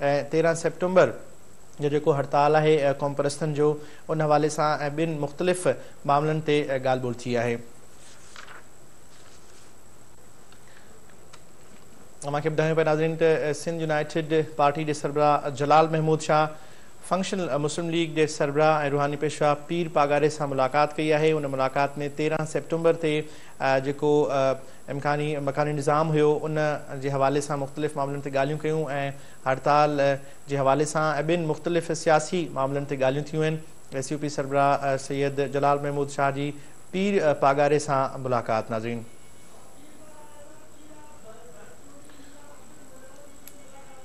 ۽ تيرهن سيپٽمبر جو جيڪو هڙتال آهي قومپرستن جو ان حوالي سان ۽ ٻين مختلف معاملن تي ڳالهه ٻولهه ٿي آهي. اوهان کي ٻڌايون پيا ناظرين ته سنڌ يونائيٽيڊ پارٽي جي سربراهه جلال محمود شاهه فنڪشنل مسلم ليگ جي سربراهه ۽ روحاني پيشوا پير پاڳاري سان ملاقات ڪئي آهي ان ملاقات ۾ تيرهن سيپٽمبر تي جيڪو امڪاني مڪاني نظام هيو ان جي حوالي سان مختلف معاملن تي ڳالهيون ڪيون ۽ هڙتال جي حوالي سان ۽ ٻين مختلف سياسي معاملن تي ڳالهيون ٿيون آهن ايس يو پي سربراهه سيد جلال محمود شاهه جي پير پاڳاري سان ملاقات ناظرين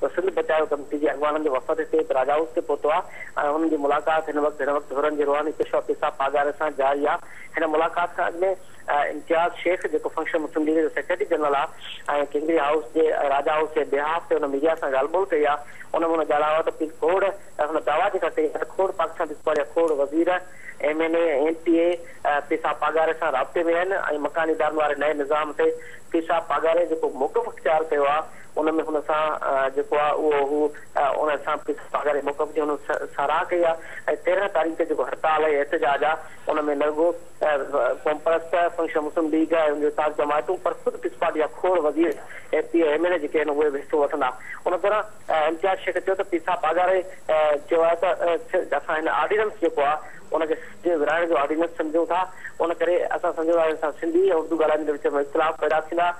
ته سنڌ بچايو ڪميٽي جي اڳواڻن جو وفد هتي هڪ راجا هائوس تي پهتو آهي ۽ انهن جي ملاقات هن وقت هن وقت حرن جي روحاني پيشوا پيسا پاڳاري سان جاري آهي. هن ملاقات کان اڳ ۾ امتياز شيخ جيڪو فنڪشن مسلم ليگ جو سيڪريٽري جنرل آهي ۽ ڪينگري هائوس جي راجا هائوس جي بيهاف تي هن ميڊيا سان ڳالهه ٻولهه ڪئي آهي ان ۾ هن ڳالهايو آهي ته پير کوڙ هن دعويٰ جيڪا ڪئي آهي ته کوڙ پاڪستان پيپلز پارٽي جا کوڙ وزير M N A ۽ M P A پيسا پاڳاري سان رابطي ۾ آهن ۽ مڪاني ادارن واري نئين نظام تي پيسا پاڳاري جيڪو موقف اختيار ڪيو آهي ان ۾ هن سان جيڪو آ اهو هو ان سان پس پاڳاري موقف جي هن ساراهه ڪئي آ ۽ تيرنهن تاريخ تي جيڪو هڙتال ۽ احتجاج آ ان ۾ نه رڳو قومپرست فنڪشنل مسلم ليگ ۽ ان جون ساٿ جماعتون پر خود پس پارٽي جا کوڙ وزير M P M N A جيڪي آهن اهي به حصو وٺندا ان دوران امتياز شيخ چيو ته پسا پاڳاري چيو آهي ته اسان هن آرڊيننس جيڪو آ ان کي سنڌ ورهائڻ جو آرڊيننس سمجهون ٿا ان ڪري اسان سمجهون ٿا ان سان سنڌي ۽ اردو ڳالهائيندڙن جي وچ ۾ اختلاف پيدا ٿيندا